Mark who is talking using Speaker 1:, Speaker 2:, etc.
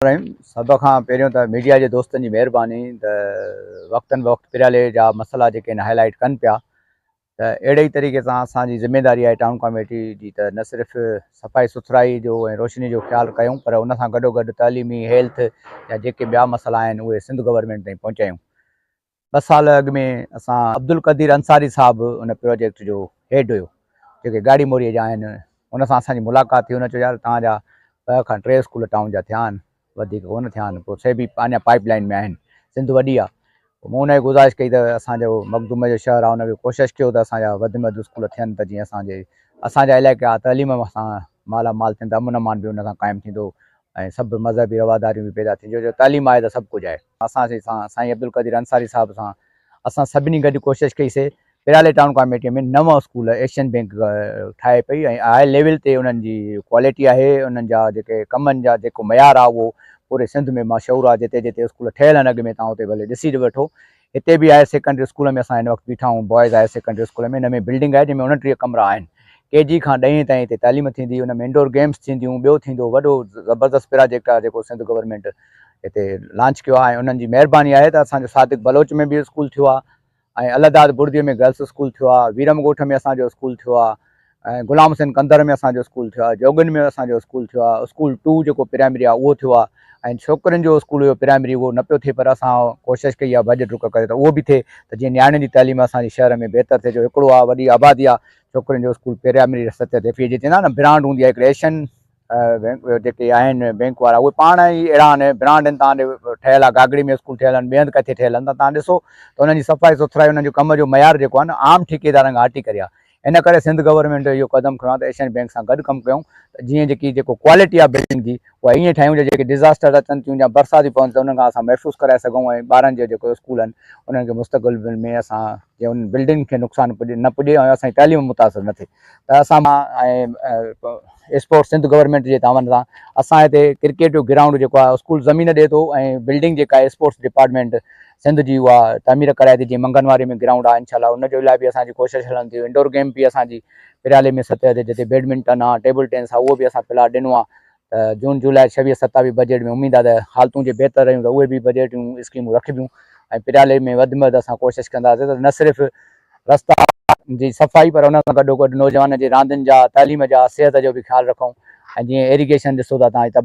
Speaker 1: الرحيم سڀ کان پهريون ته ميڊيا جي دوستن جي مهرباني ته وقتن بوقت پريالي جا مسئلا جيڪي آهن هاء لائيٽ ڪن پيا ته اهڙي ئي طريقي سان اسان جي ذميداري آهي ٽائون ڪاميٽي جي ته نه صرف صفائي سٿرائي جو ۽ روشني جو خيال ڪيون پر ان سان گڏوگڏ تعليمي هيلٿ جا جيڪي ٻيا مسئلا آهن اهي سنڌ گورنمينٽ تائين پهچايون ٻه سال اڳ ۾ اسان عبدالقدير انصاري صاحب ان پروجيڪٽ جو هيڊ هيو جيڪي گاڙي موري جا آهن ان سان اسان جي ملاقات ٿي هن چيو يار توهان جا ٻه کان ٽي اسڪول ٽائون جا ٿيا آهن وڌيڪ ڪونه ٿيا آهن پوء سي به اڃا پائپ لائن ۾ آهن سنڌ وڏي آهي مون ان کي گذارش ڪئي ته اسان جو مخدوم جو شهر آهي ان کي ڪوشش ڪيو ته اسان جا وڌ ۾ وڌ اسڪول ٿين ته جيئن اسان جي اسان جا علائقا تعليم سان مالا مال ٿين ته امن امان به ان سان قائم ٿيندو ۽ سڀ مذهبي رواداريون به پيدا ٿينديون جو تعليم آهي ته سڀ ڪجهه آهي اسان سي سان سائين عبدالقدير انصاري صاحب سان اسان سڀني گڏ ڪوشش ڪئي سي پرالي ٽائون ڪاميٽي ۾ نو اسڪول ايشين بينڪ ٺاهي پئي ۽ هاء ليول تي انهن جي ڪواليٽي آهي انهن جا جيڪي ڪمن جا جيڪو معيار آهي اهو پوري سنڌ ۾ مشهور آهي جتي جتي اسڪول ٺهيل آهن اڳ ۾ تان اتي ڀلي ڏسي وٺو هتي به هاير سيڪنڊري اسڪول ۾ اسان هن وقت بيٺا آهيون بوائز هاير سيڪنڊري اسڪول ۾ هن ۾ بلڊنگ آهي جنهن ۾ انٽيهه ڪمرا آهن ڪي جي کان ڏهين تائين هتي تعليم ٿيندي ان ۾ انڊور گيمس ٿينديون ٻيو ٿيندو وڏو زبردست پراجيڪٽ آهي جيڪو سنڌ گورنمينٽ هتي لانچ ڪيو آهي ۽ انهن جي مهرباني آهي ته اسان جو صادق بلوچ ۾ به اسڪول ٿيو آهي ۽ الهداد بڙدي ۾ گرلس اسڪول ٿيو آهي ويرم ڳوٺ ۾ اسان جو اسڪول ٿيو آهي ۽ غلام حسين ڪنڌر ۾ اسان جو اسڪول ٿيو آهي جوڳين ۾ اسان جو اسڪول ٿيو آهي اسڪول ٽو جيڪو پرائمري آهي اهو ٿيو آهي ۽ ڇوڪرين جو اسڪول هيو پرائمري اهو نه پيو ٿئي پر اسان ڪوشش ڪئي آهي ڀڄ ڊڪ ڪري ته اهو به ٿئي ته جيئن نياڻين جي تعليم اسان جي شهر ۾ بهتر ٿئي جو هڪڙو آهي وڏي آبادي آهي ڇوڪرين جو اسڪول پرائمري سطح تي جي چئندا آهن نه برانڊ هوندي آهي هڪڙي ايشين جيڪي آهن بينڪ وارا اهي پاڻ ئي اهڙا آهن برانڊ آهن تان ٺهيل آهي گاگڙي ۾ اسڪول ٺهيل آهن ٻئي هنڌ ڪٿي ٺهيل آهن ته تان ڏسو ته انهن جي صفائي سٿرائي انهن جو ڪم جو معيار جيڪو آهي نه عام ٺيڪيدارن کان هٽي ڪري آهي ان ڪري سنڌ گورنمينٽ اهو قدم کنيو آهي ته ايشين بينڪ سان گڏ ڪم ڪيون ته جيئن جيڪي جيڪو ڪوالٽي آهي بلڊنگ جي اها ائين ٺاهيون جو جيڪي ڊزاسٽر اچن ٿيون يا برساتيون پون ٿيون ته انهن کان اسان محفوظ ڪرائي سگهون ۽ ٻارن جا جيڪو اسڪول آهن انهن کي مستقبل ۾ اسان جي انهن بلڊنگن کي نقصان نه پڄي ۽ اسان جي تعليم متاثر نه ٿئي ته اسان ۽ اسپورٽس سنڌ گورنمينٽ جي تعاون سان اسان هتي ڪرڪيٽ جو گرائونڊ جيڪو آهي اسڪول زمين ڏي ٿو ۽ بلڊنگ جيڪا آهي اسپورٽس ڊپارٽمينٽ سنڌ جي اها تعمير ڪرائي ٿي جيئن منگن واري ۾ گرائونڊ آهي انشاء الله ان جو لاء به اسان جي ڪوشش هلن ٿيون انڊور گيم به اسان جي پريالي ۾ سطح تي جتي بيڊمنٽن آهي ٽيبل ٽينس آهي اهو به اسان پلاٽ ڏنو آهي ته جون جولاء ڇويهه ستاويهه بجيٽ ۾ اميد آهي ته حالتون جي بهتر رهيون ته اهي به بجيٽ جون اسڪيمون رکبيون ۽ پريالي ۾ وڌ ۾ وڌ اسان ڪوشش ڪنداسين ته نه صرف رستا جي صفائي پر ان سان گڏو گڏ نوجوانن جي راندين جا تعليم جا صحت جو به خيال رکون ۽ جيئن ايريگيشن ڏسو ٿا تان